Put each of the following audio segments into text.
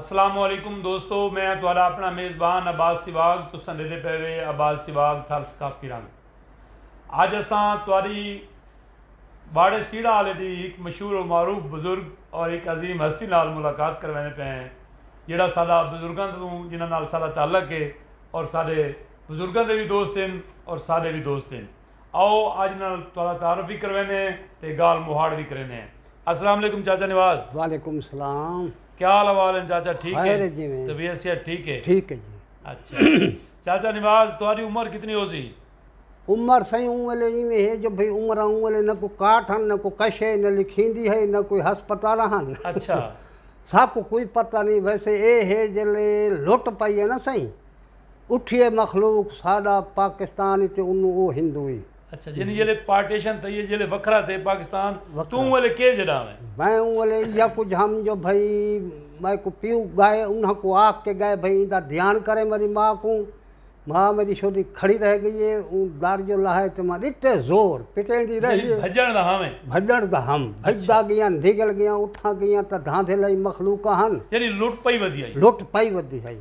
السلام علیکم دوستو میں ہاں تہاڈا اپنا میزبان عباس سیواگ تساں ڈیدھے پئے وے عباس سیواگ تھل ثقافتی رنگ اج اساں تہاڈی باڑے سیڑا والے دی ایک مشہور و معروف بزرگ اور ایک عظیم ہستی نال ملاقات کرویندے پئے ہیں جیڑا ساڈا بزرگاں توں جنہاں نال ساڈا تعلق ہے اور ساڈے بزرگاں دے وی دوست ہن اور ساڈے وی دوست ہن۔ آؤ اج انہاں نال تہاڈا تعارف وی کرویندے ہیں تے گالھ مہاڑ وی کریندے ہیں۔ السلام علیکم چاچا نواز۔ وعلیکم السلام۔ کیا حال احوال ہن چاچا ٹھیک ہیں؟ خیر ہے جی میں۔ طبیعت صحت ٹھیک ہے؟ ٹھیک ہے جی۔ اچھا چاچا نواز تہاڈی عمر کتنی ہوسی؟ عمر سائیں اوں ویلے ایویں ہے جو بھئی عمراں اوں ویلے نہ کوئی کاٹ ہن نہ کوئی کش ہے نہ لکھیندی ہے نہ کوئی ہسپتال ہن۔ اچھا۔ ساکوں کوئی پتہ نہیں ویسے اے ہے جلے لٹ پائی ہے نا سائیں۔ اٹھیے مخلوق ساڈا پاکستان ای تے انوں او ہندو ای۔ اچھا یعنی جیلے پارٹیشن تھئی ہے جیلے وکھرا تھے پاکستان تو اوں ویلے کے جڈاں ہے۔ میں اوں ویلے ایہا کجھ ہم جو بھئی میں کو پیو گائے انہاں کو آکھ کے گائے بھئی ایندا دھیان کریں میری ماں کوں ماں میری شودی کھڑی رہ گئی ہے اوں در جو لہائے تے ماں ڈتے زور پٹیں دی رہ گئی بھجن دا ہم ہے بھجن دا ہم بھجدا گیاں نگل گیاں اتھاں گیاں تاں دھاندھے لئی مخلوقاں ہن یعنی لٹ پئی ودی ہئی لٹ پئی ودی ہئی۔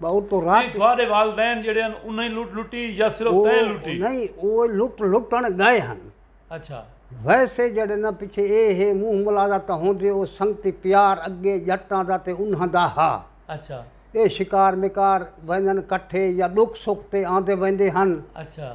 ایں تہاݙے والدین جیڑھے ہن انھیں لٹ لٹی یا صرف تیں لٹی؟ او نئیں او لٹ لٹݨ ڳئے ہن۔ اچھا۔ ویسے جیڑھے ناں پچھے اے ہے منہ ملازہ تاں ہوندے او سنگتی پیار اڳے ڄٹاں دا تے انھاں دا ہا۔ اچھا۔ اے شکار مکار ویندن کٹھے یا ݙکھ سکھ تے آندے ویندے ہن۔ اچھا۔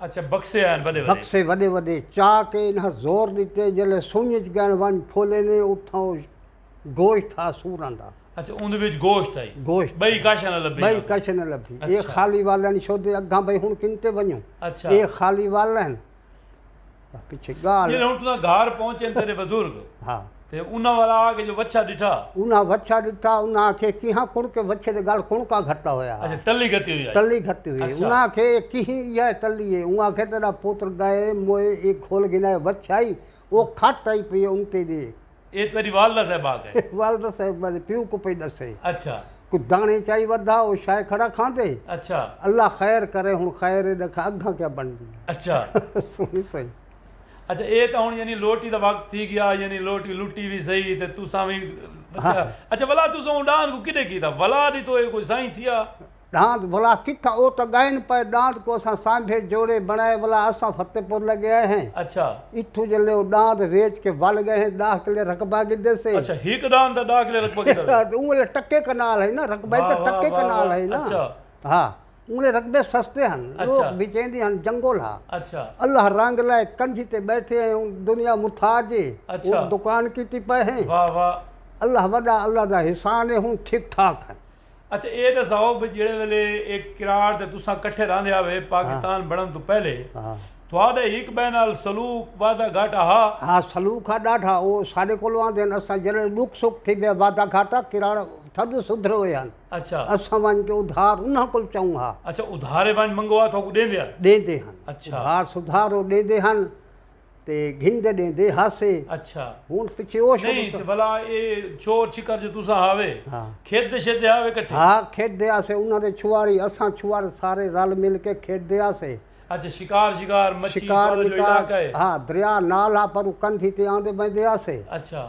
اچھا بکسے آئن وڈے وڈے بکسے وڈے وڈے چاہ کے انہاں زور دیتے جلے سنج اچ گین ون پھولے نے اتھاں او گوشت تھا سورن دا اچھا اون دے وچ گوشت تھا گوشت بھئی کاشا نہ لبھی بھئی کاشا نہ لبھی اچھا۔ اے خالی والن شو دے اگھاں بھئی ہن کن تے ونجوں اچھا۔ اے خالی والن جیلھے ہن تساں گھر پہنچن تیڈے بزرگ تے انہاں ول آ کے جو وچھا ڈٹھا۔ انہاں وچھا ڈٹھا انہاں آکھیے کیہاں کڑکے وچھے دے گل کڑکا گھٹا ہویا ہا۔ اچھا ٹلی گھتی ہوئی ہائی۔ ٹلی گھتی ہوئی ہائی۔ انہاں آکھیے اے کیہی ایہا اے ٹلی اے۔ انہاں آکھیے تیڈا پتر گئے موئے اے گھل گھنا اے وچھا ہی او کھٹ ہائی پئی اے انتے دے۔ اے تیڈی والدہ صاحبہ آکھے۔ والدہ صاحبہ دے پیو کوں پئی ڈسے۔ اچھا۔ کجھ دانے چائی ودھا او شائے کھڑا کھاندے۔ اچھا۔ اللہ خیر کرے ہن خیر اے ڈکھا اگھاں کیا بنڈی۔ اچھا۔ سنی سئی۔ اچھا اے تاں ہن یعنی لوٹی دا وقت تھی گیا یعنی لوٹی لٹی وی سئی تے تساں وی۔ اچھا ولا تساں اوں ڈانہہ کوں کڈے کیتا ولا ڈی تو اے کوئی سائیں تھیا۔ ݙاند بھلا کتھاں او تاں ڳائن پئے ݙاند کوں اساں سانبھے جوڑے بݨائے ولا اساں فتح پور لڳے آئے ہیں اچھا اتھوں جلے او ݙاند ویچ کے ول ڳئے ہیں ݙاہ کلے رقبہ گھدے سے اچھا ہک ݙاند دا ݙاہ کلے رقبہ گھدا سے اوں ویلے ٹکے کنال ہئی نا رقبہ ہی تاں ٹکے کنال ہئی نا ہا اوں ویلے رقبے سستے ہن لوک بھچیندی ہن جنگل ہا اللہ رنگ لائے کنجھی تے بیٹھے ہیں دنیا متھاج ہے دکان کیتی پئے ہیں اللہ وݙا اللہ دا احسان ہے ہن ٹھیک ٹھاک ہیں اچھا اے دساؤ بھئی جیڑے ویلے اے کراڑ تے تساں کٹھے رہندے ہاوے پاکستان بنڑن توں پہلے تہاڈے ہک بئے نال سلوک وعدہ گھاٹا ہا؟ ہاں سلوک ہا ڈاڈھا او ساڈے کولوں آندے ہن اساں جیڑے ڈکھ سکھ تھی بیا وعدہ گھاٹا کراڑ تھڈو سدھرے ہوئے ہن اچھا اساں ونج کے ادھار انہاں کول چاؤں ہا اچھا ادھارے ونج منگوا تھاکوں ڈیندے ہن ڈیندے ہن اچھا ادھار سدھار او ڈیندے ہن تے گھن دے ڈیندے ہاسے اچھا ہن پچھے او شروع نہیں تے بھلا اے چھوڑ چھکر جو تساں ہاوے ہاں کھیت دے شیت دے ہاوے کٹھے ہا کھیت دے ہاسے انہاں دے چھواری اساں چھوار سارے رل مل کے کھیت دے ہاسے اچھا شکار شکار مچھی شکار تہاڈا جو مکار علاقہ ہے ہا دریا نال ہا پر او کندھی تے آندے بیندے ہاسے اچھا۔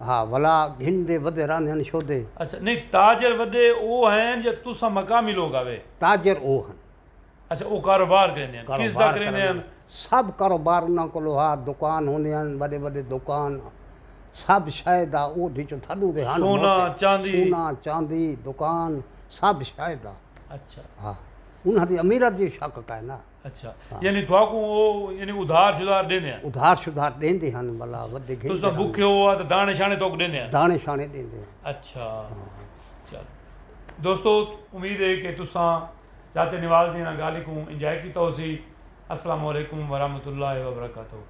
ہا ولا گھن دے ودے راندھے ہن شودے۔ اچھا نہیں تاجر وڈے او ہین یا تساں مقامی لوگ آوے۔ تاجر او ہن۔ اچھا او کاروبار کریندے ہن کس دا کریندے ہن۔ سب کاروبار انہاں کولو ہا دکان ہوندے ہن وڈے وڈے دکان سب شے دا اود وچوں تھڈو دے ہن سونا چاندی سونا چاندی دکان سب شے دا اچھا ہا انہاں دی امیرت دی شک کائنا۔ اچھا یعنی تھاکوں او یعنی ادھار شدھار ڈیندے ہن ادھار شدھار ڈیندے ہن ملا ودے گھن تساں بکھے ہو تے دانے شانے توک ڈیندے ہن دانے شانے ڈیندے ہن اچھا چل دوستو امید ہے کہ تساں چاچا نواز دی انہاں گالہی کوں انجوائے کیتا ہوسی السلام علیکم ورحمۃ اللہ وبرکاتہ